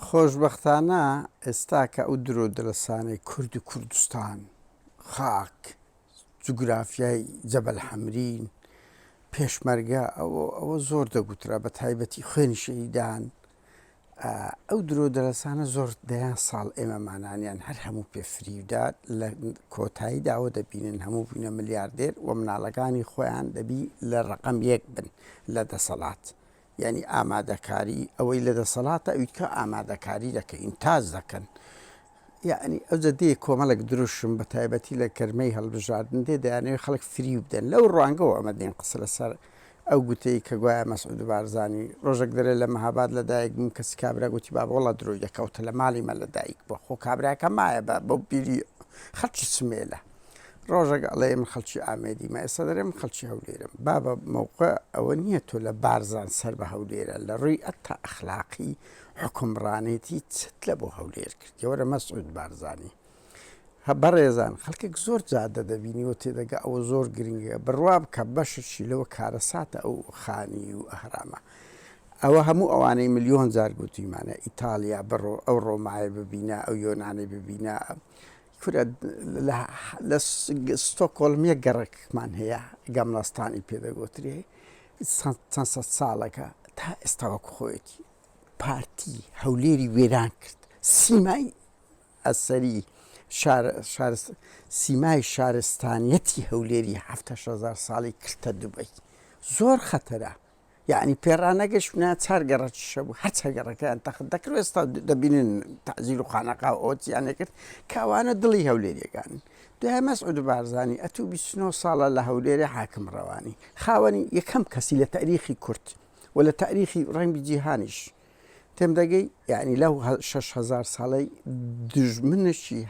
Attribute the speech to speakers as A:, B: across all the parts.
A: خۆشبەختانە ئێستا کە ئەو درۆو دەلەسانەی کورد و کوردستان، خاک، جوگرافیای جەبەل حەمرین، پێشمەرگە ئەوە ئەوە زۆر دەگوترا بە تایبەتی خوێنی شەهیدان ئەو درۆو دەلەسانە زۆر دەیان ساڵ ئێمە مانانیان هەر هەموو پێ فریودات لە کۆتایی داوە دەبینن هەموو بووینە ملیاردێر و مناڵەکانی خۆیان دەبی لە ڕەقەم یەک بن لە دەسەڵات. یانی ئامادەکاری ئەوەی لە دەسەڵاتە ئەوی تکا ئامادەکاری دەکەی ئینتاج دەکەن یعنی ئەوجە دێ کۆمەڵێک دروشم بە تایبەتی لە گەرمەی هەڵبژاردن دێ دەیانەوێ خەڵک فریو بدەن لەو ڕوانگەوە ئەمە دێن قسە لەسەر ئەو گوتەی کە گوایە مەسعود بارزانی ڕۆژێک دەرێ لە مەهاباد لە دایک بووم کەسی کابرا گوتی بابە وەڵا درۆی دەکەوتە لە ماڵی مە لە دایک بووە خۆ کابراکە مایە بە بەو بیری خەڵکی سمێلە ڕۆژەک ئەڵێ من خەڵکی ئامێدی مە ئێستا دەێ من خەڵکی هەولێرم بابە مەوقع ئەوە نییە تۆ لە بارزان سەر بە هەولێرە لە ڕووی ئەتا ئەخلاقی حکومڕانێتی چت لە بۆ هەولێر کرد یەوەرە مەسعود بارزانانی هە بەڕێزان خەڵکێک زۆر جادە دەبینی و تێدەگە ئەوە زۆر گرنگە بڕوا بکە بەششی لەوە کارەساتە ئەو خانی و ئەهرامە ئەوە هەموو ئەوانەی ملیۆن جار گوتیمانە ئیتالیا بڕۆ ئەو ڕۆمایە ببینە ئەو یۆنانی ببینە کورە لە ستۆکۆلم یەک گەڕەکمان هەیە گەملەستانی پێ دەگۆترێ چەند سەد ساڵەکە تا ئێستا وەکو خۆیەتی پارتی هەولێری وێران کرد سیمای ئەسەری سیمای شارستانیەتی هەولێری هەهزار ساڵی کردە دوبەی زۆر خەتەرە یەعنی پێ ڕانەگەشت ناچار گەڕە چشە بوو هەر چە گەڕەکەیان تەخت دەکرد ئێستا دەبینن تازیل و خانەقا ئۆتیانە کرد کاوانە دڵی هەولێریەکان دوای مەسعود بارزانانی ئەتو 29 ساڵە لە هەولێرە حاکم ڕەوانی خاوەنی یەکەم کەسی لە تاریخی کورت و لە تاریخی ڕەنگی جیهانیش تێم دەگەی یعنی لەو شش هزار ساڵەی دژمنەشی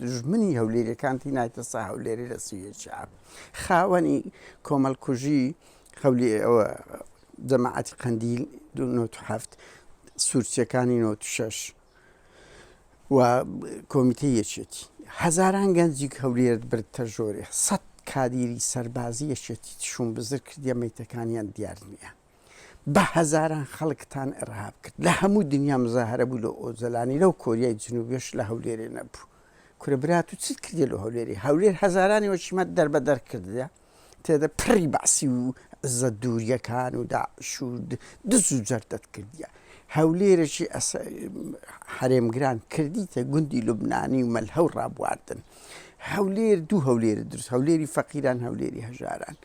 A: دژمنی هەولێریەکانتی نایتەسا هەولێری لە سوێچیا خاوەنی کۆمەلکوژی خەولی ئەوە جەماعەتی قەندیل دو هەفت سوورچەکانی 96 و کۆمیتە یەکێتی هەزاران گەنجی هەولێرت برد تە ژۆرێ سەد کادیری سەربازی یەکێتی تشوم بزر کردە میتەکانیان دیار نییە بە هەزاران خەڵکتان ئرهاب کرد لە هەموو دنیا مزاهرە بوو لە ئۆجەلانی لەو کۆریای جنوبێش لە هەولێرێ نەبوو کورە برات و چیت کردی لە هەولێری هەولێر هەزارانی وەشیمە دەربەدەر کردە تێدە پڕی بەعسی و زە دووریەکان و داعش و دز و جەردەت کردیە هەولێرەشی حرێمگران کردیتە گوندی لوبنانی و مەلهە و ڕابواردن هەولێر دوو هەولێر درست هەولێری فەقیران هەولێری هەژاران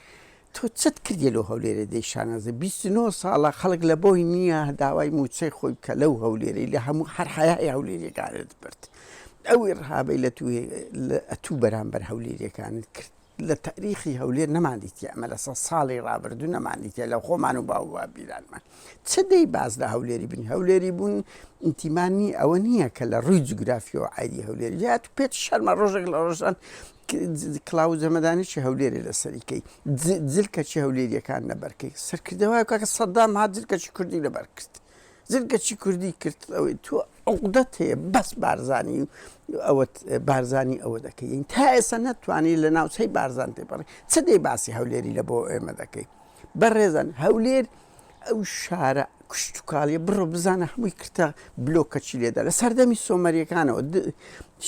A: تۆ چت کردیە لۆ هەولێرێ دەی شانازی بیست و نۆ ساڵە خەڵک لەبۆی نیە داوای موچەی خۆی بکە لەو هەولێرەی لە هەموو هەر حەیای هەولێریەکانت برد ئەو ئیڕهابەی لە توێ لە ئەتوو بەرامبەر هەولێریەکانت کرد لە تاریخی هەولێر نەمان دیتیە ئەمە لە سەد ساڵی ڕابردوو نەمان دیتیە لە خۆمان و باو بابیرانمان چ دەی باز لە هەولێری بنی هەولێری بوون ئینتیمانی ئەوە نییە کە لە ڕووی جوگرافیەوە عادی هەولێر یات پێت شەرمە ڕۆژێک لە ڕۆژان کلاوز هەمەدانی چی هەولێرێ لەسەری کەی جل کەچی هەولێریەکان نەبەرکەی سەرکردەوە کاکە سەدام ها جل کەچی کوردی لەبەر کرد جل کەچی کوردی کرد ئەوەی تۆ عقدەت هەیە بەس بارزانانی ئەوەت بارزانانی ئەوە دەکەین تا ئێستا نەتوانانی لە ناوچەی بارزان تێپەڕی چ دەی باسی هەولێری لە بۆ ئێمە دەکەی بەڕێزان هەولێر ئەو شارە کشتوکاڵیە بڕۆ بزانە هەمووی کرتە بلۆکە چی لێدا لە سەردەمی سۆمەریەکانەوە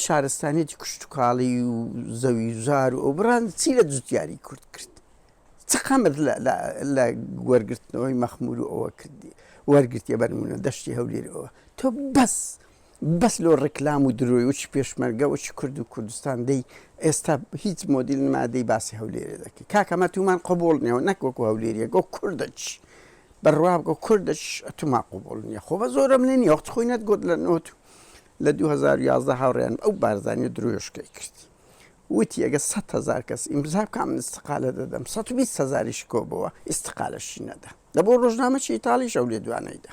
A: شارستانێتی کشتوکاڵی و زەوی زار و ئەو بڕان چی لە جوتیاری کورد کرد چقەمت لە وەرگرتنەوەی مەخمور و ئەوە کردی وەرگرتیە بەرمونە دەشتی هەولێرەوە تۆ بەس بەس لۆ ڕیکلام و درۆی وەچی پێشمەرگە وەچی کورد و کوردستان دەی ئێستا هیچ مۆدیل نما دەی باسی هەولێرێ دەکەی کاکە مە تومان قبوڵ نیەوە نەک وەکو هەولێریە گۆ کوردچ بڕوا بکە کوردچ ئەتوما قبوڵ نیە خۆ بە زۆرم لێ نیە وەخت خۆی نەت گۆت لە نۆت لە دوو هەزار و یازدە هاوڕێیان ئەو بارزانی و درۆیشکەی کرد وتی ئەگە سەد هەزار کەس ئیمزا بکە من ئیستقالە دەدەم سەد و بیست هەزاریش کۆبەوە ئیستقالەشی نەدا دەبۆ ڕۆژنامەچی ئیتاڵیش ئەو لێدوانەی دا